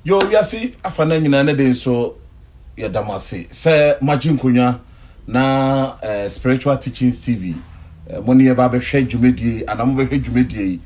Yoo wiase afanan nyinaa ne den so yɛda mo ase sɛ moagye nkonnwa na eh, Spiritual Teachings TV eh, mo ne yɛba abɛhwɛ dwumadie yi anaa mobɛhwɛ dwumadie yi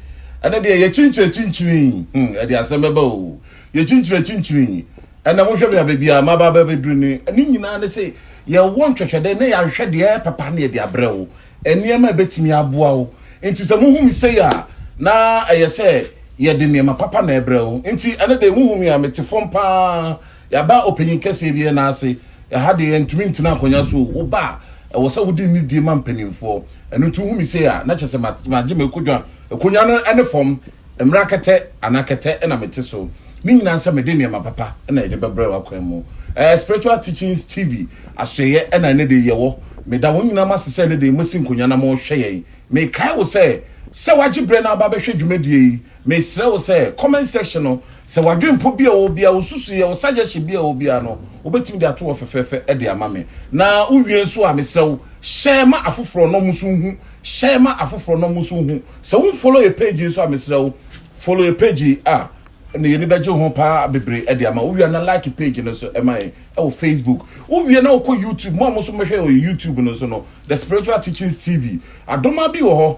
ɛnɛ deɛ yɛkyinkyini akyinkyini hmm, ɛde asɛm bɛba o yɛkyinkyini akyinkyini ɛnɛ mohwɛ me abɛ biara maba abɛduru ne ne nyinaa ne sɛ yɛwɔ ntwɛtwɛdɛ na yɛahwɛ deɛ ɛyɛ papa ne yɛde abrɛ wo Nneɛma a ɛbɛtumi aboa wo nti, sɛ mohu me sei a, na ɛyɛ sɛ yɛde nneɛma papa na ɛbrɛ wo. Nti, ɛnɛ deɛ mohu me a, mete fam pa ara. Yɛaba ɔpanyin kɛseɛ bi nan ase. Ɛha deɛ, yɛntumi ntena akonnwa so o. Woba a, ɛwɔ sɛ wode nidie ma mpanimfoɔ. Ɛno nti, wohu me sei a, na kyerɛ sɛ magye m'akonnwa. Akonnwa no ne fam. Mmara kɛtɛ anaa kɛtɛ na mete so, ne nyinaa sɛ mede nneɛma papa na yɛde bɛbrɛ wo akwan mu. Ɛɛ Spiritual Teachings TV asoɛeɛ na ɛne de yɛwɔ. Meda wɔn nyinaa mo ase sɛ ɛne de moasi nkonwa na mohwɛ yɛn. Mekae wo sɛ, sɛ woagye berɛ na aba abɛhwɛ dwumadie yi, mesrɛ wo sɛ, comment section no, sɛ w'adwenpɔ bi a ɛwɔ biara, wo susuiɛ, wo suggestion bi a ɛwɔ biara no, wobɛtumi de ato hɔ fɛfɛɛfɛ de ama me. Na wowie nso a, mesrɛ wo, hyɛ ma afoforɔ na wɔn nso nhu, hyɛ ma afoforɔ na wɔn nso nhu. Sɛ wo nfollow yɛ page yi nso a mesrɛ wo follow yɛ page yi a na yɛni bɛgye ho paa bebree de ama wo wia na like page no nso ɛma yɛn ɛwɔ Facebook wo wia na wokɔ YouTube mo a mo nso mɛhwɛ wɔ YouTube no nso no The Spiritual Teachings TV adoma bi wɔ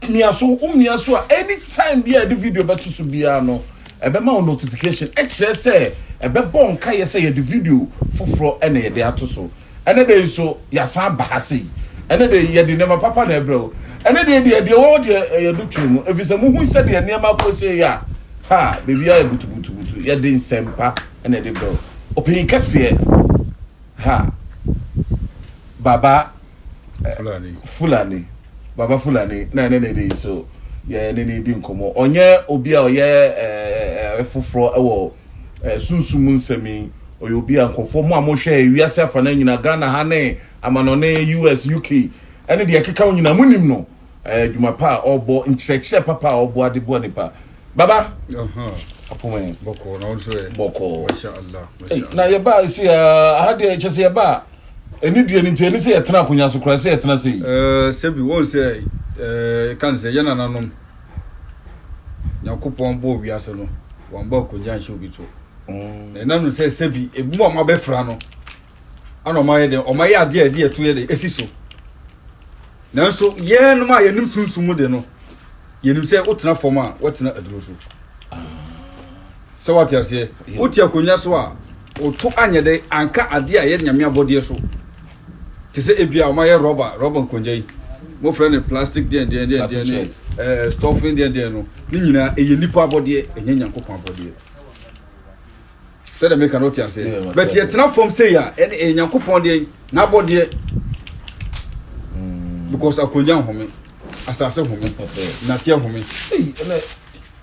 hɔ mia so wo mia so a anytime bi a yɛde video bɛto so biara no ɛbɛma wo notification ɛkyerɛ sɛ ɛbɛbɔ nka yɛ sɛ yɛde video foforɔ ɛna yɛde ato so Ɛnnɛ da yi nso, yɛasan aba ha sei. Ɛnnɛ da yi, yɛde nneɛma papa na ɛbrɛ wo. Ɛnnɛ deɛ deɛ deɛ ɛwɔ hɔ deɛ ɛyɛ do twe mu, ɛfiri sɛ mohu sɛ deɛ nneɛma akɔ sei a, ha baabiara yɛ butubutubutu. Yɛde nsɛmpa na ɛde brɛ wo. Ɔpanyin kɛseɛ, ha, Baba Fulani. Fulani, Baba Fulani, na ɛne ne de yi so yɛ ne ne di nkɔmmɔ. Ɔnyɛ obi a ɔyɛ ɛɛ ɛɛ foforɔ wɔ Eh, sunsum mu nsɛm yi, ɔyɛ obi a nkurɔfoɔ mo a mohwɛ wiase afanan nyinaa, Ghana ha ne amanɔne, US, UK, ɛne deɛ ɛkeka ho nyinaa, monim no. Eh, adwuma pa a ɔbɔ, nkyerɛkyerɛ papa a ɔbɔ ade boa nipa. Baba, apoma yi, bɔkɔɔ, na ɔnso ɛ, bɔkɔɔ, masha Allah, masha Allah. Na yɛba ɛsi a, aha deɛ ɛkyɛ sɛ yɛba a, ɛni deɛ ni nti, ɛni sɛ yɛtena akonya so koraa, ɛsɛ yɛtena sɛ yi. Eh, sɛbi, wɔn sɛ, eh, kan sɛ, yɛn nananom, Nyankopɔn bɔɔ wiase no, wɔammɔ akonnwa anhyɛ obi to. Mm. Na ɛnam no sɛ sɛbi ebi a wɔabɛfra no ana wɔayɛ dɛ wɔayɛ adeɛ a ɛde ɛto yɛ dɛ esi so. Nanso yɛnom a yɛnim sunsun mu de no, yɛnim sɛ wotena fam a wɔtena aduro so. Ah. Sɛ wɔate aseɛ, wote akonnwa so a woto anyɛ dɛ anka adeɛ a ɛyɛ nyame abɔdeɛ so. Te sɛ ebia wɔayɛ rɔba, rɔba nkongya yi, wɔfrɛ no plastic deɛn deɛn deɛn deɛn ne ɛɛ stuffing deɛn deɛn no, ne nyinaa ɛyɛ nipa abɔdeɛ, ɛnyɛ Nyankopɔn abɔdeɛ. Sɛdeɛ meka no te aseɛ, but yɛtena fam sei a, ɛne ɛyɛ Nyankopɔn deɛn, n'abɔdeɛ. Hmm. Because akongya nhome, asase home, nateɛ home.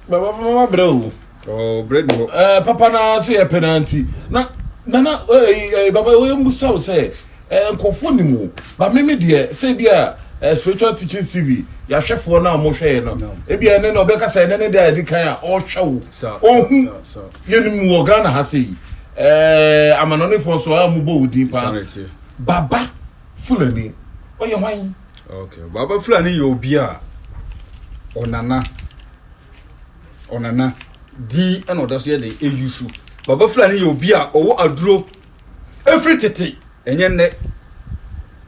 baba fama ma brɛ o oh, brɛ bi hɔ ɛɛ eh, papa na se yɛ penalty na nana ɛɛ eh, ɛɛ eh, baba wɔyɛ musa o sɛ ɛɛ nkɔfo ni mu ba mímí deɛ sɛ bi a ɛɛ spiritual teaching tv yahwɛfoɔ na wɔn hwɛ yɛ no ebi a ɛne na ɔbɛka sɛ ɛne ne deɛ a yɛde kan a ɔhwɛ o ɔhu yɛ ne mu wɔ ghana ha sɛ yi ɛɛ amanɔnefoɔ nso a wɔn bɔ odin paa baba. Fulani, ɔyɛ hwan? Okay, Baba Fulani yɛ obi a ɔnana ɔnana din ɛna ɔda so yɛ den eyi so. Baba Fulani yɛ obi a ɔwɔ aduro efiri tete ɛnyɛ nnɛ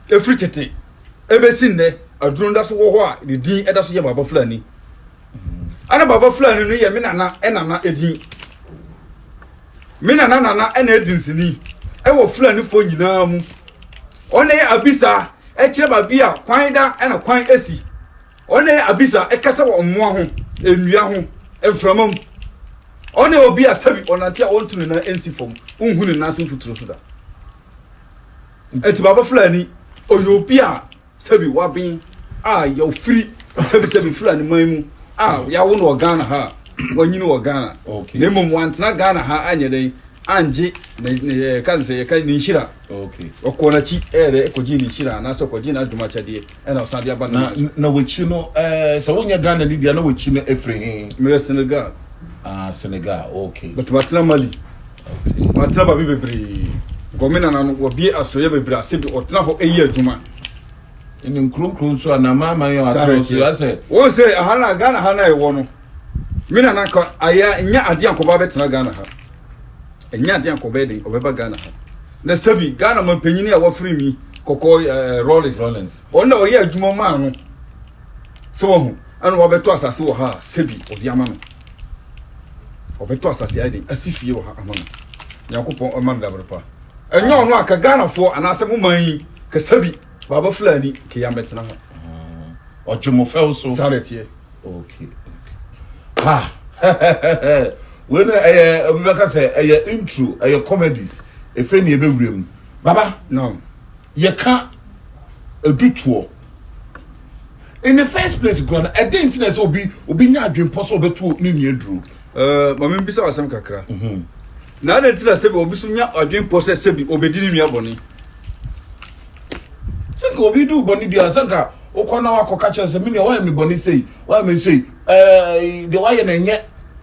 efiri tete ebesi nnɛ aduro no da so wɔ hɔ a ne din ɛda so yɛ Baba Fulani. Ɛna Baba Fulani no yɛ me nana ɛnana edin. Me nana nana na edi nsini wɔ Fulanifoɔ nyinaa mu. Ɔne abisa kyerɛ baabi a kwan da na kwan si. Ɔne abisa kasa wɔ mmoa ho, nnua ho, mframa mu. Ɔne obi a sɛbi ɔnante a ɔntu ne nan nsi fam, wonhu ne nan ase mfuturo so da. Eti Baba Fulani, ɔyɛ obi a Sɛbi w'aben a y'ɔfiri sɛbi sɛbi firi aneman mu a y'awo no wɔ Ghana ha a w'anyini wɔ Ghana na mmom w'antena Ghana ha anyɛ dɛn angye ne ne yɛka ne sɛ yɛka ne nhyira ɔkɔɔ n'akyi ɛyɛ dɛ ɛkɔgye ne nhyira anaasɛ ɔkɔgye n'adwuma akyɛdeɛ ɛna ɔsan de aba ne na na w'akyi no ɛɛ sɛ wonyɛ Ghana ni deɛ na w'akyi no ɛfiri he? Meyɛ Senegal. Ah Senegal okay. But matena Mali. Ɔatra baabi bebree. Gomina na no, wɔabue asoɛeɛ bebree ase de ɔtena hɔ yɛ adwuma. Ne nkuro nkuro nso a n'amanaman yɛ ɔatra nso asɛ. Wɔn sɛ aha na Ghana ha na ɛwɔ no. Me na nanka ayɛ nyɛ adeɛ ankɔba bɛtena Ghana ha. Ɛnyɛ adeɛ ankɔba ɛden ɔbɛba Ghana ha. Na sɛbi Ghana mampanyini a wɔfiri mi kɔkɔɔ ɛɛ Rollins. Rollins. Ɔno na ɔyɛ adwuma maa no. Sɛ wɔn ho ɛna wɔabɛtɔ asase wɔ ha a sɛbi ɔde ama no. ɔbɛtɔ asase ayɛ den asi fie wɔ ha ama no nyankopɔn ɔma no dabere pa ɛnyɛ ɔno a ka ghanafoɔ anaasɛ mo man yi kasa bi baaba fulani ke yɛ mɛtena ha ɔgye mo fɛw so saa dɛ teɛ okay ha wei no ɛyɛ obi bɛka sɛ ɛyɛ intro ɛyɛ comedies efe ne ɛbɛwura mu baba no yɛka adutoɔ. In the first place kura no ɛdɛn nti na ɛsɛ obi obi nya adwempɔ sɛ ɔbɛto ne nua duro. ɛɛ eh, maame bisa asɛm kakra. Mhm. na adɛn nti na sɛbi obi so nya adwempɔ sɛ sɛbi obedi ne nua bɔne. sɛ nka obi du bɔne bi a sɛ nka wokɔ na wakɔ ka kyerɛ sɛ menua wayɛ me bɔne sei wayɛ me sei ɛɛ eh, deɛ wayɛ na ɛnyɛ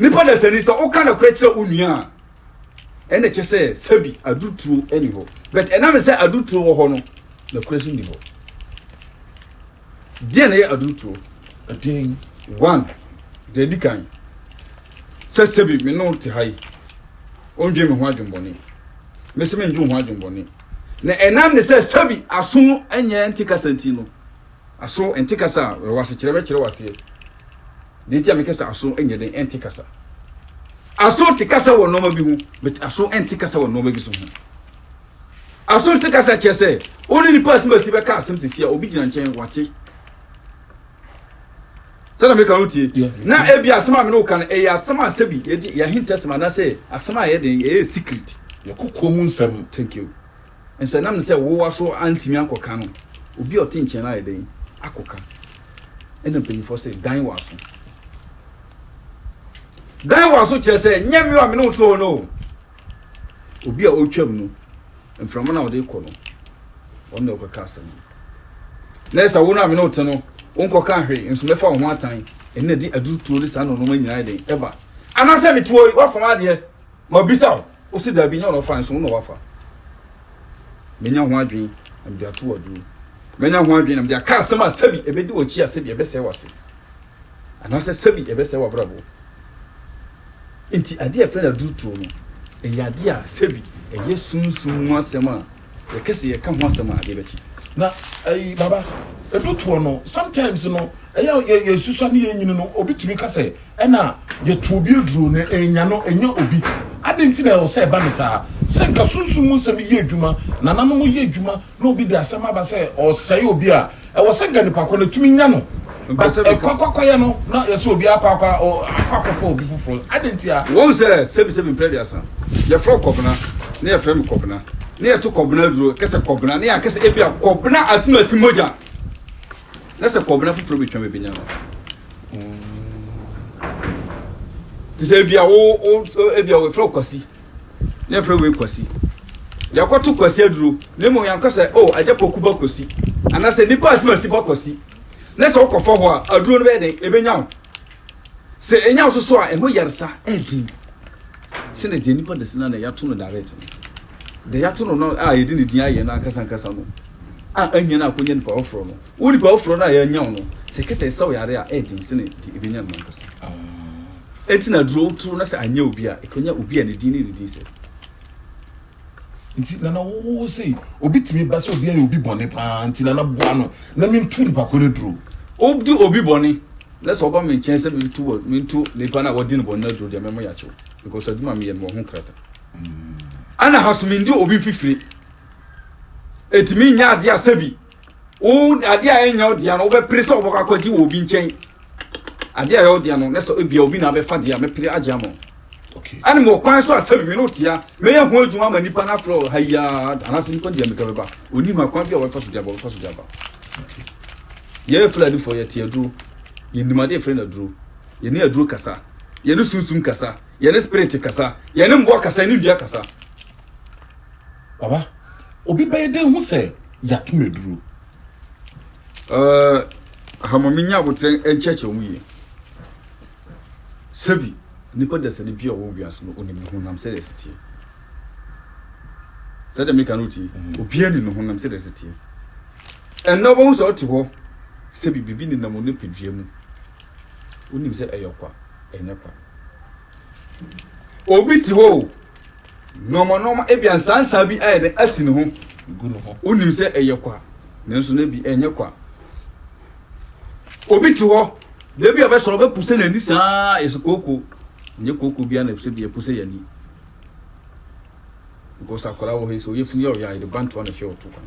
Nipa dasani, sɛ woka nokorɛ kyerɛ wo nua a, ɛna kyɛ sɛ sɛbi aduturo ɛni hɔ. But ɛnam sɛ aduturo wɔ hɔ no, nokorɛ so ni hɔ. Deɛ na yɛ aduturo? Ɛdin. One, deɛ ɛdi kan, sɛ sɛbi me no te ha yi, ɔndwen me ho adwenbɔne, me sɛ me ndwen ho adwenbɔne. Na ɛnam ne sɛ sɛbi aso ɛnyɛ nte kasa nti no, aso nte kasa a, ɛwɔ asekyerɛ bɛkyerɛ wɔ aseɛ. Nea enti a meka sɛ aso nyɛ den nte kasa. Aso te kasa wɔ nneɛma bi ho, but aso nte kasa wɔ nneɛma bi so ho. Aso nte kasa kyerɛ sɛ wo ne nipa asɛm asi bɛka asɛm sisi a obi gyina nkyɛn wate. Sɛdeɛ meka no tie na ebi asɛm a mene wo ka no ɛyɛ asɛm a sɛbi yɛde yɛahintasɛm anaasɛ asɛm a ɛyɛ den ɛyɛ secret. Yɛkokɔ mu nsɛm. Thank you. Nso ɛnam ne sɛ wowa so antumi ankɔka no, obi a ɔte nkyɛn no ayɛ dɛn akɔka? Ɛnna mpanyimfoɔ se, Dan w'aso. Dan w'aso kyerɛ sɛ nyɛ me a me ne wo te hɔ no o. Obi a ɔretwam no, mframa no a ɔde kɔ no, ɔno na ɔkɔka asɛm no. Na ɛsɛ wo no a me ne wo te no, wonkɔka hwee nso mɛfa wo ho atan. Ɛnna de aduru turo ne saa nnoɔma nyinaa yɛ den ɛba. Anaasɛ mete hɔ yi, woafam adeɛ, Mabisa wo, wo se dabi, nyɛ ɔno ɔfae nso wo na wafa. Manya ho adwene na mede ato w'adwene mu. Manya ho adwene na mede aka asɛm a sɛbi ɛbɛdi w'akyi a sɛbi ɛbɛsɛe w'ase anaasɛ sɛbi ɛbɛsɛe w'abrabɔ. Enti adeɛ a yɛfrɛ no aduruturo no, ɛyɛ adeɛ a sɛbi ɛyɛ sunsum mu asɛm a Yɛkɛ se yɛka ho asɛm a adeɛ bɛkye. Na ei baba, edu toɔ no sometimes no ɛyɛ a yɛsusua ne yɛnyini no obi tumi ka sɛ ɛna yɛto obi aduro na enya no enya obi. Adɛn nti na ɛwɔ sɛ ɛba no saa? Sɛ nka sunsum mu nsɛm yɛ adwuma, nananom yɛ adwuma na obi de asɛm aba sɛ ɔresɛe obi a, Ɛwɔ sɛ nganipa kɔ no tumi nya no. Ɛkɔ kwakɔyɛ no na yɛsɛ obi akɔ akɔ akɔ akɔfa obi foforɔ. Adɛn ntia? Wɔhu sɛ sɛbisɛbi mprɛ aduasa yɛfrɛ wo Kɔbena na yɛfrɛ me Kɔbena na yɛto Kɔbena aduro ɛka sɛ Kɔbena na yɛaka sɛ ebia Kɔbena asem asi mogya na sɛ Kɔbena foforɔ bɛtwam ɛbɛnya no. Te sɛ ebia wo ebia wɔfrɛ wo Kwasi na yɛfrɛ wei Kwasi. Yɛkɔto Kwasi aduro na mmom yɛanka sɛ, o, Agya Poku ba Kwasi, anaasɛ nnipa asimasi ba Kwasi. Na sɛ wokɔfa hɔ a, aduro no bɛyɛ dɛn? Ɛbɛnya wo. Sɛ ɛnya wo so so a, ɛho yaresa ɛden sɛdeɛ deɛ nnipa de sena na yɛato no direct no. Deɛ yɛato no no a yɛde ne din ayɛ no ankasa ankasa no a anya no akɔnya nipa foforɔ no, Wo nipa foforo no a yɛanya wo no, sɛ ɛka sɛ ɛsa wo yare a, ɛyɛ den sɛnea deɛ ɛbɛnya no ankasa. Enti na duro toro na sɛ anyɛ obi a, ɛkɔnya obi a ne din ne ne din sɛ. Nti nana wo sei obi tumi ba sɛ obi ayɛ obi bɔne paa nti nana boa no na mentu nipa ko no duro. Wodi obi bɔne na sɛ ɔba me nkyɛn sɛ mentu wɔ mentu nipa na wɔdi no bɔne na duro deɛ mɛmɔ yɛakyew because adwuma meyɛ no wɔ ho krata. Ana ha so mendi obi mfifire. Ɛtumi nyɛ adeɛ a sɛbi. Wo adeɛ a ɛnyɛ wo dea no wobɛpere sɛ wobɛkɔ akɔgye wɔ obi nkyɛn. Adeɛ a ɛyɛ wo dea no na sɛ ebia obi na abɛfa deɛ a mɛpere agye ama wo. Okay. Ɛne mewɔ kwan so a sɛ me ne wo tea mɛyɛ ho adwuma ama nipa no afrɛ ha yi ara anaasɛ nipa deɛ meka bɛba ɔni ho akwan bi a wɔbɛfa so deɛ wɔbɛfa so deɛ aba. Okay. Yɛyɛ Fulanifoɔ yɛte aduro yɛnim adeɛ frɛ no aduro yɛne aduro kasa yɛne sunsum kasa yɛne spirit kasa yɛne mmoa kasa yɛne dua kasa. Baba, obi bɛyɛ dɛn ho sɛ yɛato no aduro? Uh, ha ma menya aboterɛ nkyɛkyɛ ho yie. Sɛbi, nipa dasani bi a ɔwɔ wiase no onim ne honam sɛdeɛ ɛsi teɛ. Sɛdeɛ meka no tie, mm. obiara nim ne honam sɛdeɛ ɛsi teɛ. Ɛnna wobɛhu sɛ ɔte hɔ sɛbi biribi nenam ne padua mu. Wonim sɛ ɛyɛ kwa, ɛnyɛ kwa. Obi te hɔ o, nɔɔma nɔɔma ebi ansansa bi ayɛ dɛ asi ne ho. Wonim sɛ ɛyɛ kwa, nanso na bi ɛnyɛ kwa. Obi te hɔ, da bi a ɔbɛsɔrɔ ɔbɛpo sɛ n'ani saa yɛ sɛ kooko. Nyɛ kooko bi ana sɛ bi ɛpo sɛ y'ani. Because akwadaa wɔ hɔ yi sɛ ɔyɛ funu yɛ ɔyɛ a yɛde bantoa na ɛhwɛ ɔto kwan.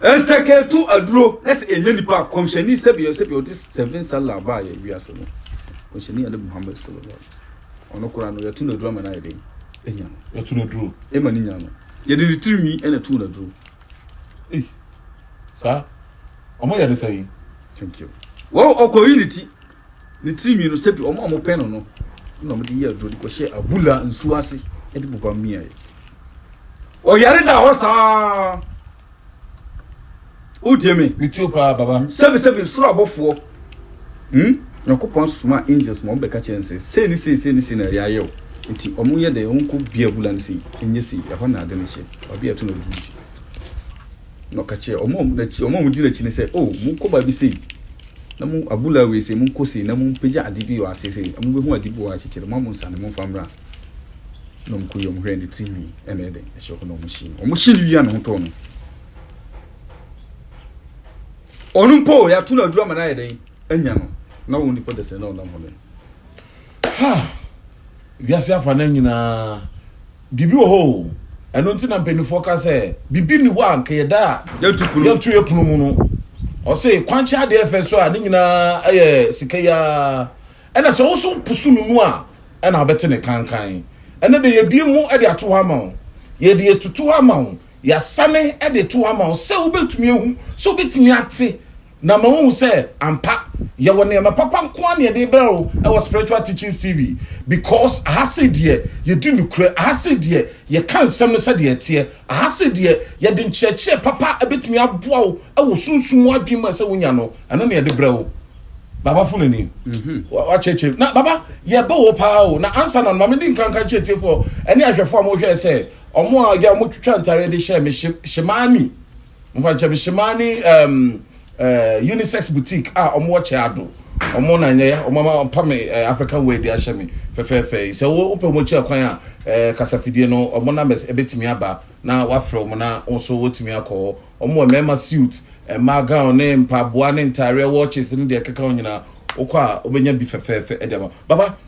Nsɛkɛɛtu aduro na sɛ ɛnyɛ nipa a kɔmhyɛni sɛbi sɛbi ɔde seven sala baa yɛ wiase no kɔmhyɛni ade muhammed sallallahu ɔno koraa no yɛto no aduro ama no ayɛ den ɛnya no yɛto no aduro ɛma no nya no yɛde ne tirinwi ɛna to no aduro saa ɔmo yɛ de sɛ yi thank you wɔn ɔkɔyi ne ti Ne tiri nwi no, sɛdeɛ wɔn a wɔpɛ no no na wɔde yɛ aduro de kɔhyɛ abula nsuo ase de popa mmeaeɛ. Ɔyare da hɔ saa. Wotie me? Metie wo paa, baba. Sɛbesɛbe soro abɔfoɔ. Hmm? Nyankopɔn asoma angels ma wɔbɛka kyerɛ no sɛ, sei ne sei, sei ne sei na ɛyɛ ayɛ o. Nti wɔyɛ dɛ, wɔnkɔ bia abula no sei, ɛnyɛ sei, ɛhɔ na ade no hyɛ. Baabi a ɛto no aduru bi. Na ɔka kyerɛ wɔn a wɔdi n'akyi no sɛ, o, oh, monkɔ baabi sei. Na mo abula wei se, monkɔ sei, na mompagya ade bi wɔ ase sei, na mobehu ade bi wɔ akyekyere, mo a monsa no, momfa mmra. Na wɔn kɔe, wɔhwɛɛ ne tiri nhwi, ɛna ɛyɛ dɛn, ɛhyɛ hɔ, na wɔhyee no. Wɔhyee no wia ne ho tɔɔ no. Ɔno mpo, yɛato no aduru ama no ayɛ dɛn, anya no. Na wɔn nipa dasani na ɔnam hɔ no. Ha! Wiase afa no nyinaa. Biribi wɔ hɔ o. Ɛno nti na mpanimfoɔ ka sɛ, biribi nni hɔ a anka yɛda a yɛnto yɛn pono mu no. Ɔse, kwankye adeɛ fɛ so a ne nyinaa yɛ sika yi ara. Ɛna sɛ wo nso wopusu no mu a, ɛna wobɛte ne kankan. Ɛnɛ de, yɛabue mu de ato hɔ ama wo. Yɛde atutu hɔ ama wo. Yɛasane de to hɔ ama wo sɛ wubetumi ahu, sɛ wubetumi ate, na ama woahu sɛ ampa yɛwɔ nneɛma papa nko ara na yɛde rebrɛ wo wɔ Spiritual Teachings TV, because aha sei deɛ yɛdi nokorɛ, aha sei deɛ yɛka nsɛm no sɛdeɛ ɛteɛ, aha sei deɛ yɛde nkyerɛkyerɛ papa a ɛbɛtumi aboa wo wɔ sunsum mu adwene mu a ɛsɛ wonya no, ɛno na yɛde brɛ wo. Baba fo n'ani. Wakyerɛkyerɛ. Na Baba, yɛbɛ wo paa o. Na ansa na no, ma mede nkranka nkyerɛ atiefoɔ ne ahwɛfoɔ a wɔhwɛɛ sɛ Ɔmo a ɔgya ɔmo twitwa ntareɛ de hyɛ me hye hyemaani nfa nkyɛ me hyemaani ɛɛm ɛɛ unisex boutique a ɔmo wɔ kyɛ ado ɔmo na nyɛ ya ɔmo ama pa me ɛɛ african wear de ahyɛ me fɛfɛɛfɛ yi sɛ wo wopɛ ɔmo kyɛ kwan a ɛɛ kasafidie no ɔmo numbers ɛbɛtumi aba na wafrɛ ɔmo na wo nso wotumi akɔ hɔ ɔmo wɔ mmarima suit mmaa gown ne mpaboa ne ntareɛ watches ne deɛ ɛkeka ho nyinaa wokɔ a wobɛnya bi fɛfɛɛfɛ ɛde ama baba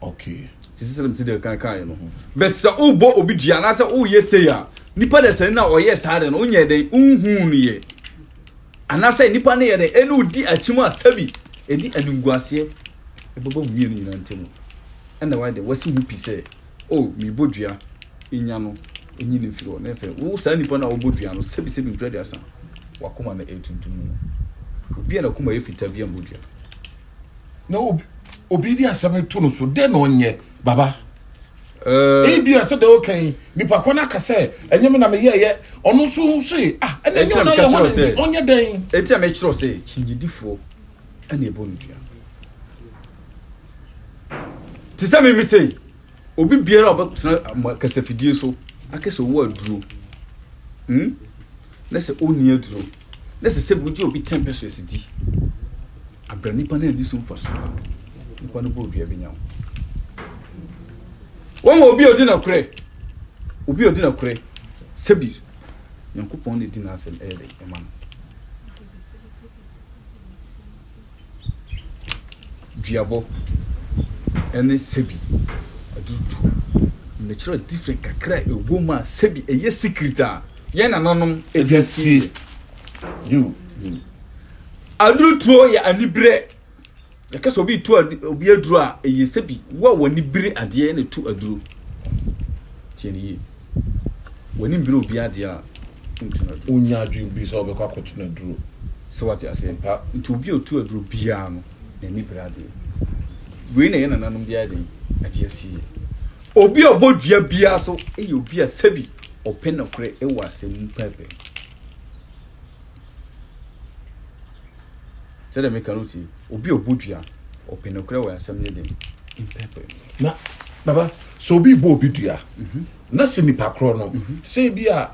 okay sisi sɛ mesi deɛ kan kaeɛ no but sɛ wobɔ obi dua anaasɛ woyɛ sei a nipa da sani na ɔyɛ saa de no wonyɛ dɛn wohuu no yɛ anaasɛ nipa no yɛ dɛn ɛne wodi akyim a sɛbi ɛdi animguaseɛ ɛbɛbɔ mmienu nyina ntam ɛna wae de wasi ho pi sɛ o oh, mebɔ dua ɛnya no ɛnyi no mfiri hɔ ne sɛ wo saa nipa no a wobɔ dua no sɛbi sɛbi mfiri aduasa wakoma no ɛtuntum no obi a nakoma yɛ fitaa bi a mbɔ dua na obi de asɛm to no so dɛn na ɔnyɛ baba eh. ebi a sɛ dɛ ɔka yi nipa kɔ no aka sɛ ɛnyɛ me na meyɛɛyɛ ɔno nso se ah ɛna ɛnyɛ ɔna yɛ hɔ ne ɔnyɛ dɛn ɛti a mekyerɛ sɛ kyingyidifoɔ ɛna ɛbɔ no dua te sɛ meme sei Obi biara a ɔbɛtena mo kasafidie so aka sɛ ɔwɔ aduro hmm? na sɛ ɔnni aduro na sɛ sɛ wogye obi 10 pesos di abra nipa no adi so mfa so a nipa no bɔ dua bɛnya wo wɔn obi a ɔdi nokorɛ obi a ɔdi nokorɛ sɛbi nyankopɔn na ɛdi n'asɛm ɛyɛ dɛ ɛma no duabɔ ne sɛbi aduru du. Mekyerɛw different kakra a ɛwɔ mu a sɛbi ɛyɛ secret a yɛn nananom ɛdi asie. You, you. Aduru tuo yɛ anibere. Yɛka sɛ obi tu obi aduru a ɛyɛ sɛbi wo a w'ani bere adeɛ na tu aduru. Tiɛ ne yie. W'ani mbre obi adeɛ a, wontu no aduro. Wonnya adwene bi sɛ wobɛkɔ akɔto no aduro. So wate aseɛ? Mpa. Nti obi a ɔtu aduro biara no, n'ani bre adeɛ. Wei na yɛn nananom de ayɛ dɛn? Ate asie. Obi a ɔbɔ dua biara so yɛ obi a sɛbi ɔpɛ nokorɛ wɔ asɛm mu pɛɛpɛɛ. Sɛdeɛ meka no tie, obi a ɔbɔ dua, ɔpɛ nokorɛ wɔ asɛm no den mpɛpɛ mu. Na, Baba, sɛ obi rebɔ obi dua, na sɛ nipa korɔ no, sɛ ebi a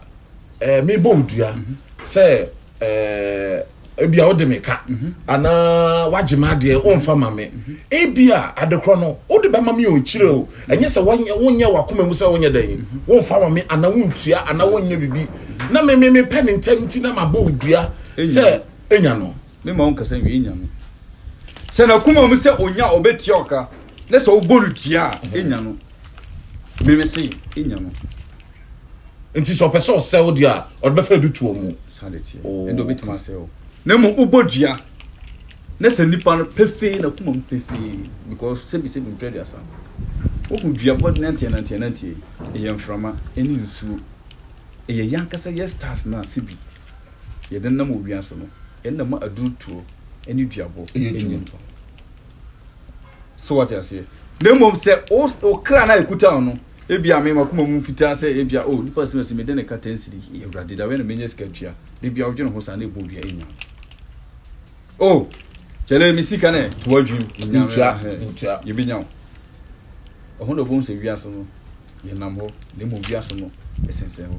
ɛɛ mebɔ wo dua sɛ ɛɛ ebi a wode me ka, anaa wagye me adeɛ wonfa ma me, ebi a ade korɔ no wode bɛma me o, kyire o, ɛnyɛ sɛ wanyɛ wonyɛ wakoma mu sɛ wonyɛ dɛn, wonfa ma me, anaa wontua, anaa wonyɛ biribi, na me me mepɛ no ntɛm nti na mabɔ wo dua sɛ. Enya no. Me ma ɔnkasa nwie. Enya no. Sɛ n'akoma mu sɛ onya ɔbɛtua ɔka ne sɛ ɔbɔ no tua a, enya no. Meme se, enya no. Nti sɛ ɔpɛ sɛ ɔsɛ wo deɛ a, ɔde bɛfa du tuo mu. Saa de teɛ. Oh, Ɛnde ɔbɛtumi asɛ wo. Na mmom wobɔ dua ne sɛ nipa no pefee n'akoma mu pefee because sɛbisɛbi mprɛ aduasa. Wohu dua bɔ nanteɛ nanteɛ nanteɛ yi, ɛyɛ mframa ne nsuo. Ɛyɛ yɛn ankasa yɛn stars no a sɛbi. yɛdenam wɔ wiase no, ɛnna ma aduru toɔ ne duabɔ yɛ adwuma. So wate aseɛ? Na mmom sɛ wo kra no a ɛkuta wo no, ebia me makoma mu fitaa sɛ ebia o oh, nipa sɛ mɛsi mede ne ka tɛnsiri awurade da wɛ na menya sika tua de bia wodwene ho saa na ɛbɔ dua ɛnya o oh, kyɛlɛ me sika ne to adwim yɛbɛnya wo ɛho na ɔbɛhu sɛ wiase no yɛnam hɔ na mmom wiase no ɛsensɛn hɔ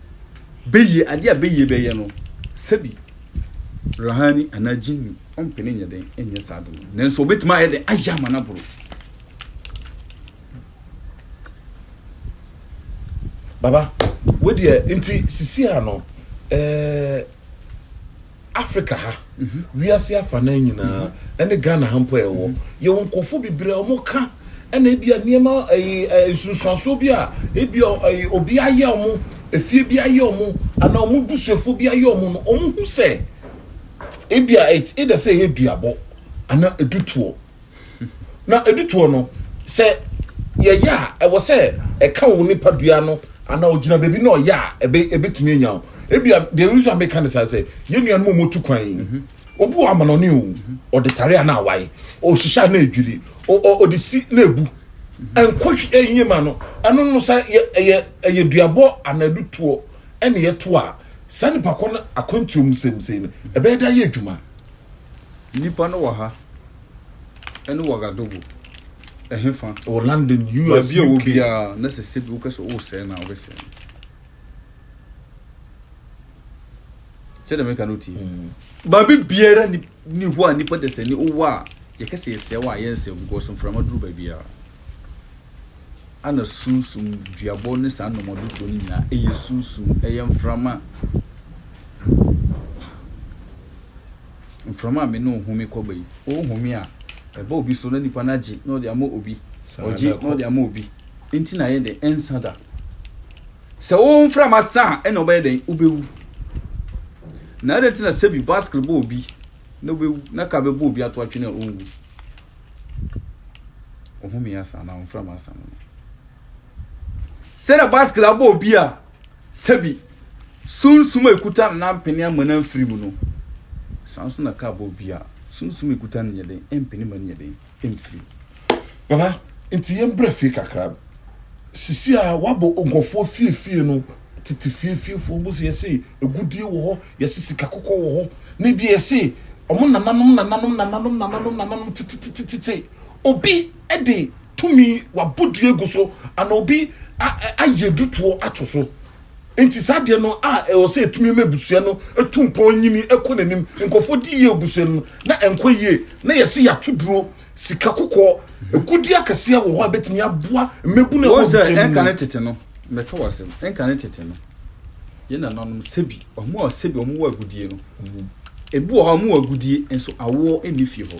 Beyie, adeɛ a Beyie bɛyɛ no, sɛbi Ruhani anaa Jinni ɔmpene nyɛ dɛn nyɛ saa ade no, nanso ɔbɛtumi ayɛ dɛn ayɛ ama no aboro. Baba, wo deɛ, nti sisi a no, ɛɛ. Africa ha, wiase afanan nyinaa, ɛne Ghana ha mpo a yɛwɔ, yɛwɔ nkurɔfoɔ bebree a wɔka ɛna ebia nneɛma ɛyi ɛ nsunsuansoɔ bi a ebia ɛyi obi ayɛ wɔn, efie bi ayɛ wɔn, anaa wɔn busuafoɔ bi ayɛ wɔn no, wɔhu sɛ ebia it's either sɛ ɛyɛ duabɔ anaa ɛdutoɔ. Na ɛdu toɔ no, sɛ yɛyɛ a, ɛwɔ sɛ ɛka wo nipadua no anaa ɔgyina baabi na ɔyɛ a, ɛbɛtumi anya wo. Ebia the reason meka ne saa sɛ, yɛn nuanom a wɔtu kwan yi, mhm. obi wɔ amanɔne o, mhm. ɔde tare a na awae, ɔhyehyɛ a na ɛdwiri, ɔde si na ɛbu. Mhm. Nkɔ ɛyɛ ma no, ɛno no sɛ ɛyɛ duabɔ anaa ɛdu toɔ ɛne yɛto a, saa nipa kɔ no akwantuo mu sɛmsɛi no, ɛbɛyɛ da yɛ adwuma. Nnipa no wɔ ha ne Ouagadougou, ɛhefa? Wɔ London, US, UK. Baabi a ɔwɔ biara, na sɛ sɛbi wopɛ sɛ wosɛe no a, wobɛsɛe no. Kyɛ dɛ meka no wotie. Mm. Baabi biara ni hɔ a nipa dasani wowɔ a yɛka sɛ yɛsɛe wɔ a yɛnsɛe because mframa duru baabiara. Ana sunsum duabɔ ne saa nnɔmɔdodoɔ no nyinaa ɛyɛ sunsum ɛyɛ mframa. Mframa a me ne wo home kɔba yi, wohome a, ɛba obi so na nipa no agye na ɔde ama obi, ɔgye na ɔde ama obi. Nti na yɛ dɛn? Ɛnsa da. Sɛ wo mframa sa a, ɛna ɔbɛyɛ dɛn? Wobɛwu. Na ɛdɛn nti na sɛbi baskere bɔ obi na wobɛwu na ka bɛbɔ obi ato atwene a ɔnwu? Ɔhome asa anaa ɔmframa asa no no. Sɛ na baskil abɔ obi a, sɛbi, sunsum a ekuta no na ampene ama no amfiri mu no, saa nso na kaa bɔ obi a, sunsum a ekuta no nyɛ den mpene ma no nyɛ den mfiri mu. Baba, nti yɛn brɛ fie kakra. Sisi a wabɔ nkɔfoɔ fie fie no, tete fie fie foɔ mo se yɛse egudie wɔ hɔ, yɛse sika kɔkɔ wɔ hɔ, ne bi yɛse ɔmo nananom nananom nananom nananom nananom tete tete tete obi de tumi, wabɔ dua agu so, ana obi ayɛ dutoɔ ato so. Nti saa deɛ no a ɛwɔ sɛ ɛtumi ma abusua no ɛtu mpɔn nyini ɛkɔ n'anim, nkɔfoɔ di yie abusua no na ɛnkɔ yie, na yɛse yɛato duro, sika kɔkɔɔ, ɛgudeɛ akɛseɛ wɔ hɔ a ɛbɛtumi aboa mmabunu ɛwɔ abusua no mu. Ɛnka ne tete no, mɛka w'asɛm, ɛnka ne tete no, yɛn nananom sɛbi, ɔmo a sɛbi ɔmo wɔ agudie no, ɛbi wɔ hɔ ɔmo wɔ agudie nso awoɔ ɛnni fie hɔ.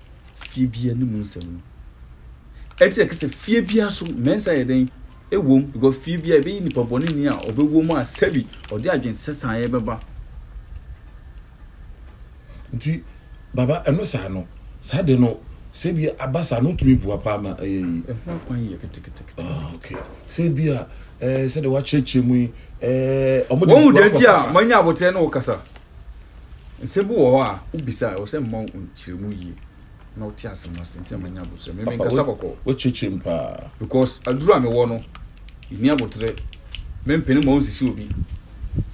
fie biara ne mu nsɛm no. Ɛte sɛ kɛsɛ fie biara so mɛnsa yɛ dɛn ɛwom because fie biara ɛbɛyi nipa bɔne ni a ɔbɛwɔ mu a sɛbi ɔde adwen sɛsaa yɛ bɛba. Nti baba ɛno saa no saa de no sɛ bi aba saa no tumi bua paa ma ɛyɛ yi. Ɛho akwan yɛ ketekete. Ah okay. Sɛ bi a ɛɛ sɛ de wakyerɛkyerɛ mu yi ɛɛ ɔmo de bua papa saa. Wɔn mu deɛ nti a manya abotire ne wo kasa. Nsɛm bi wɔ hɔ a, wobisa a, ɛwɔ sɛ mema wo nkyerɛmu yie na wote asɛm no ase. Nti na manya abotire. Me, menkasa bɔkɔɔ. Wokyekye m paa. Because aduru a mewɔ no, menni abotire. Mempene mma wonsisi obi.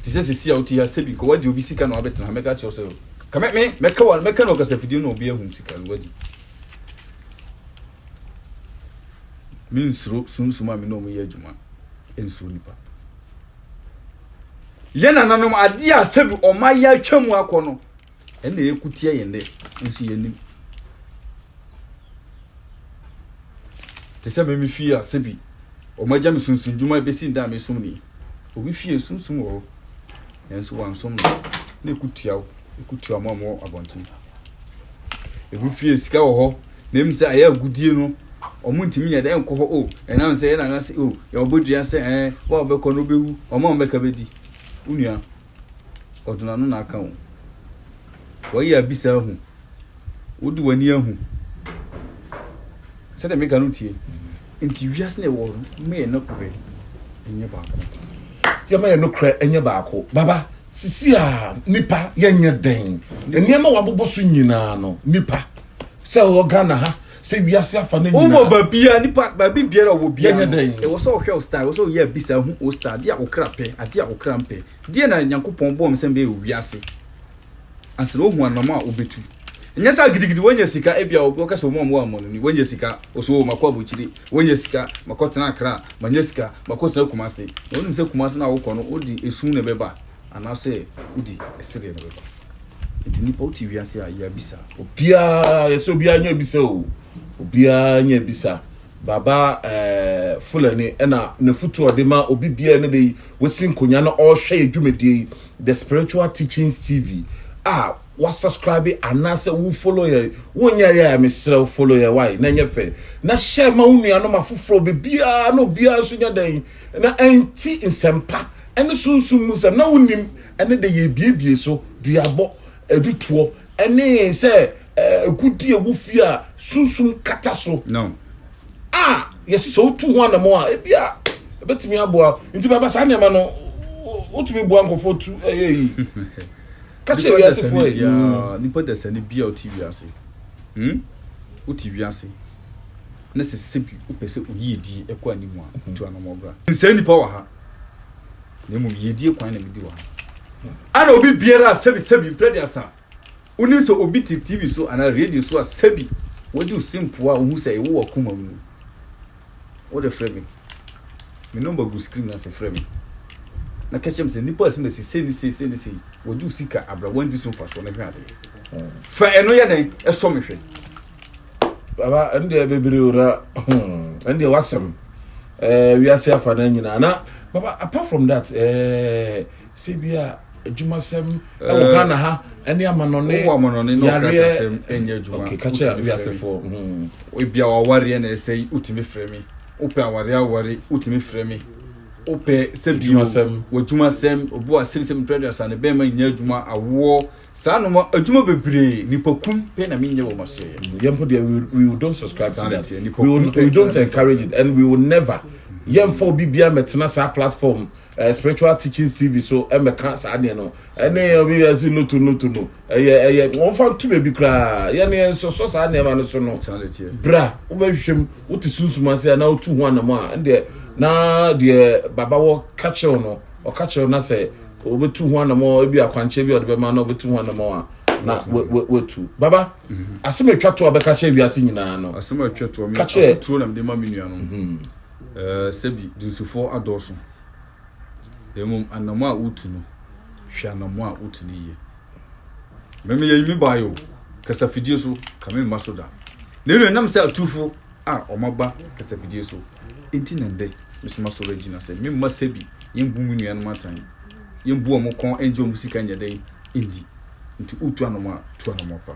Te sɛ seesei a wote ha, sɛbi nka woagye obi sika na woabɛtena ha, mɛka akyerɛ wo sɛ, ka me, me, mɛka wo, mɛka no wɔ kasafidie no na obi ahu sika no, woadi. Mensuro sunsum a me ne wɔn yɛ adwuma. Nsuro nipa. Yɛn nananom adeɛ a sɛbi ɔma yɛ atwa mu akɔ no ɛna ɛkuteɛ yɛn dɛ nso yɛnim te sɛ meme fie a sɛbi ɔma gya me sunsun dwuma ɛbɛsi nda a mesom ni obi fie sunsum wɔ hɔ nanso wansom no na ɛkutua wo ɛkutua mo a mo abɔnten ebi fie sika wɔ hɔ Na mmom sɛ ɛyɛ agodie no, wɔntumi nyɛ dɛ nkɔ hɔ, o, ɛnam sɛ yɛn nana se, o, yɛbobɔ dua sɛ, ɛɛ, wo a wobɛkɔ no wobɛwu, wɔn a wɔbɛka bɛdi. Wo nua, ɔde n'ano na aka wo. Wayɛ abisa ahu. Wode w'ani ahu. Sɛdeɛ meka no tie. Nti wiase na ɛwɔ no, ma yɛ nokorɛ nyɛ baako. Yɛma yɛ nokorɛ nyɛ baako. Baba, sisi a, nnipa, yɛnyɛ dɛn? Nneɛma a wɔabobɔ so nyinaa no, nnipa. sɛ ɔwɔ ghana ha sɛ wiase afa no nyinaa wowɔ baabia nipa baabi biara ɔwɔ bia no ɛwɔ sɛ ɔhwɛ wo star ɛwɔ sɛ ɔyɛ abisa hu wo star adeɛ a wo kra pɛ adeɛ a wo kra mpɛ deɛ na nyankopɔn bɔɔ me sɛ mbɛyɛ wɔ wiase ansa na ɔhu anam a wobɛtu ɛnyɛ sɛ gidigidi wanya sika ebia wɔka sɛ ɔmɔ mmoa mmɔ no ni wanya sika ɔsɛ wɔ makɔ abɔkyire wanya sika makɔtena akra manya sika makɔtena kumase na wonim sɛ kumase no a wokɔ no wode esu na ɛbɛba anaasɛ wode ɛsedeɛ na ɛbɛba Nti nipa wote wiase a yɛ bisa. Obiara yɛ sɛ obiara nyɛ bisa o. Obiara nyɛ bisa. Baba eh, Fulani ɛna n'afutu ɔde ma obi biara ne de yi wasi nkonya na ɔrehwɛ yɛ dwumadie yi The Spiritual Teachings TV a wasubscribe anaasɛ wo follow yɛ wonyɛ yɛ a mesrɛ wo follow yɛ wae na ɛnyɛ fɛ na hyɛ ma wo nuanom afoforɔ biribiara na obiara nso nyɛ dɛn na ɛnti nsɛmpa ɛne sunsum mu nsɛm na wonim Ɛne de yɛbiebie so, duabɔ, adutoɔ, ne sɛ agudeɛ a ɛwɔ fie a sunsum kata so a yɛse sɛ wotu ho anamɔ a ebia ɛbɛtumi aboa nti bɛba saa nneɛma no wotumi boa nkɔfoɔ tu ɛyɛ yi ka kyerɛ wiasefoɔ yi hmm. nipa dasani bia ɔte wiase hmm? wote wiase na sɛ sɛ bi wopɛ sɛ oyie die ɛkɔ anim a tu anamɔ bra nsɛ nipa wɔ ha na mmom yiedie kwan na medi wɔ ha. Ana obi biara a sɛbi sɛbi mprɛ aduasa a wonim sɛ obi te TV so anaa radio so a sɛbi wadi wo se mpoa a wohu sɛ ewo w'akoma mu no, wode frɛ me. Me nɔmba gu screen no ase, frɛ me na ka kyerɛ me sɛ nnipa a simasi sei ne sei sei ne sei wadi wo sika abrɛ woandi so mfasoɔ no hwɛ adeɛ. Fa ɛno yɛ dɛn? Ɛsɔ me hwɛ. baba ɛn deɛ bebree o na hmm, ɛn deɛ wasɛm ɛɛ eh, wiase afa na nyinaa na baba apart from that ɛɛ eh, sɛ bi a adwumasɛm ɛwɔ eh, ghana ha ɛne amanɔne wɔ amanɔne na ɔkratasɛm ɛnyɛ adwuma okay kakyɛ wiasefoɔ hmm. ebi a wawareɛ na ɛsɛ yi wotumi frɛ mi wopɛ aware aware wotumi frɛ mi wopɛ sɛ bi o wɔ adwumasɛm obi wɔ asɛm sɛm twerɛ de asane bɛn ma nyɛ adwuma awoɔ. Saa no mo adwuma bebree nipa kum pɛ na menyɛ wɔ masoɛyɛ. Yɛn mpo deɛ we we we don't subscribe to that. We will, we don't encourage it and we will never. Yɛn mfa obi biara mɛtena saa platform uh, spiritual teachings TV so ɛmɛka saa deɛ no. Ɛne obi ɛsi loto loto no ɛyɛ ɛyɛ wɔn fa ntu baabi koraa. Yɛn yɛn nsɔsɔ saa nneɛma no so no. Bra wobɛhwehwɛ mu wote sunsum ase a na wotu ho anam a ɛndeɛ na deɛ baba wɔ ka kyerɛw no ɔka kyerɛw na sɛ wɔbɛtu ho anamɔ ebi akwankyerɛ bi a ɔde bɛma na wɔbɛtu ho anamɔ a na wɔatu baba mhm. asɛm a atwa to a bɛka kyerɛ wiase nyinaa no asɛm a atwa to a ka kyerɛ atoturo na mede ma me nua no mhm. eh, sɛbi dunsifoɔ adɔɔso mmom anamɔ a wotu no hwɛ anamɔ a wotu no yie mɛmɛ yɛyi me baayɛ o kasafidie so ka me mma so da na ɛnu ɛnam sɛ atufo a wɔaba kasafidie so nti na nnɛ meso masɔre agyina sɛ memma sɛbi yɛmbu me nuanom atan, yɛmbu wɔn kɔn ngye wɔn sika nyɛ dɛn ndi. Nti woretu anamɔ a, tu anamɔ pa.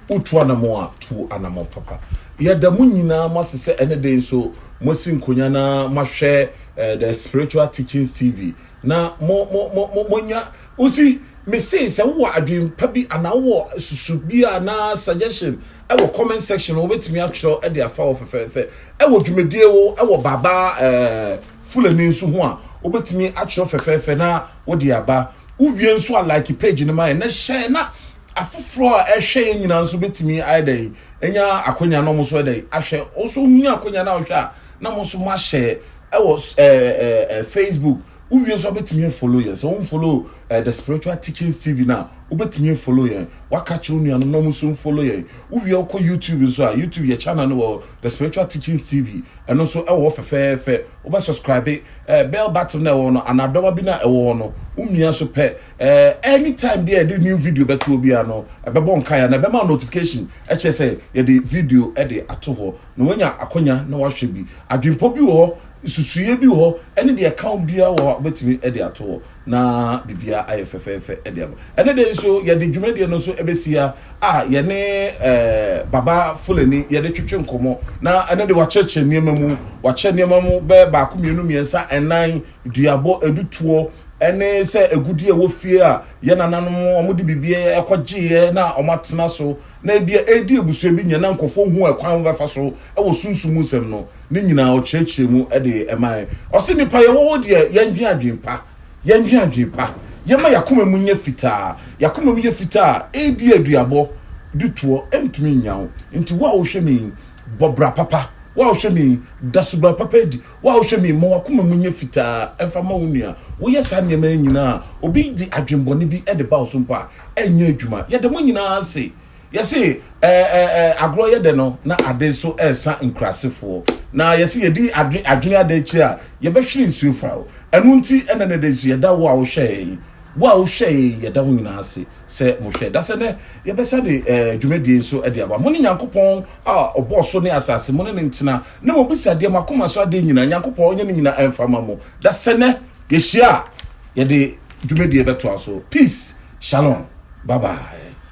Woretu anamɔ a, tu anamɔ papa. Yɛda mo nyinaa mo ase sɛ ɛne dɛn nso moasi nkonya na moahwɛ The Spiritual Teachings TV na mo mo mo mo moanya. Wo see, me see sɛ wowɔ adwene pa bi anaa wowɔ susu bi anaa suggestion wɔ comment section no wobɛtumi atwerɛ de afa wɔ fɛfɛɛfɛ ɛwɔ dwumadie wo ɛwɔ baba ɛɛ fulani nso ho a wobɛtumi atwerɛ fɛfɛɛfɛ na wode aba wowie nso a like page no ma yɛ na hyɛ na afoforɔ a ɛhwɛ yɛ nyinaa nso bɛtumi ayɛ dɛn ɛnya akonya no mo so ɛdɛn ahwɛ wo nso hu akonya no a wohwɛ a na mo nso moahyɛ ɛwɔ ɛɛ ɛɛ facebook Wo wie nso a wobɛtumi a follow yɛn. Sɛ wo nfollow eh, The Spiritual Teachings TV no a, wobɛtumi a follow yɛn. Waka kyerɛ wo nuanom na ɔmo nso nfollow yɛn. Wo wie a wokɔ YouTube nso a, YouTube yɛ channel no wɔ The Spiritual Teachings TV. Ɛno nso ɛwɔ hɔ fɛfɛɛfɛ. Wobɛ subscribe eh, bell button na ɛwɔ hɔ no, anaa dɔba bi na ɛwɔ hɔ no, wo mia so pɛ. Eh, anytime bi a yɛde new video bɛto hɔ biara no, ɛbɛbɔ nkae anaa ɛbɛma wo notification ɛkyerɛ sɛ yɛde video ɛde ato hɔ. Na woanya akwanya na woahwɛ bi. Adwempɔ bi wɔ hɔ Nsusuiɛ bi wɔ hɔ ɛne deɛ ɛka wo biara wɔ hɔ a wobɛtumi de ato hɔ na biribiara ayɛ fɛfɛɛfɛ de ama. Ɛnɛ da yi nso yɛde dwumadie no nso bɛsi ha a yɛne Baba Fulani yɛde twetwe nkɔmmɔ na ɛno de wakyerɛkyerɛ nneɛma mu, wakyerɛ nneɛma mu bɛyɛ baako, mmienu, mmiɛnsa, nnan, duabɔ, adutoɔ ɛne sɛ agudie a ɛwɔ fie a yɛn nananom wɔde biribi kɔgyeeɛ na wɔatena so na ebia ɛredi abusua bi nya na nkurɔfoɔ hu ɛkwan a wɔbɛfa so wɔ sunsum mu nsɛm no. ne nyinaa ɔkyerɛkyerɛ mu de mae. Ɔse, Nnipa yɛwɔ hɔ deɛ yɛndwen adwen pa, yɛndwen adwen pa, yɛma y'akoma mu nyɛ fitaa, y'akoma mu yɛ fitaa a, ebi a duabɔ de toɔ ntumi nnya wo. Nti wo a wohwɛ me yi, bɔ bra papa, wo a wohwɛ me yi, da suban papa adi, wo a wohwɛ me yi, ma w'akoma mu nyɛ fitaa mfa ma wo nua. Woyɛ saa nneɛma yi nyinaa a, obi de adwen bɔne bi de ba wo so mpo a, ɛnyɛ adwuma. Yɛda mo nyinaa ase. Yɛse ɛɛ agorɔ yɛ dɛ no na ade nso ɛresa nkurasefoɔ. Na yɛse yɛdi adwe adwene ada akyire a yɛbɛhwere nsuo fa o. Ɛno nti ɛnɛ nɛdɛ nso yɛda wo a wohwɛ yɛn, wo a wohwɛ yɛn yɛda mo nyinaa ase sɛ mo hwɛ. Dasɛ nɛ yɛbɛsa de ɛɛ dwumadie nso de aba. Mone Nyankopɔn a ɔbɔɔ so ne asase, mone ne ntena. Na mobisa deɛ moakoma so adeɛ nyinaa, Nyankopɔn ɔnyɛ ne nyinaa ɛmfa ma mo. Dasɛ nɛ yɛhyia a yɛde dwumadie bɛtoa so. Peace, Shalom, bye bye.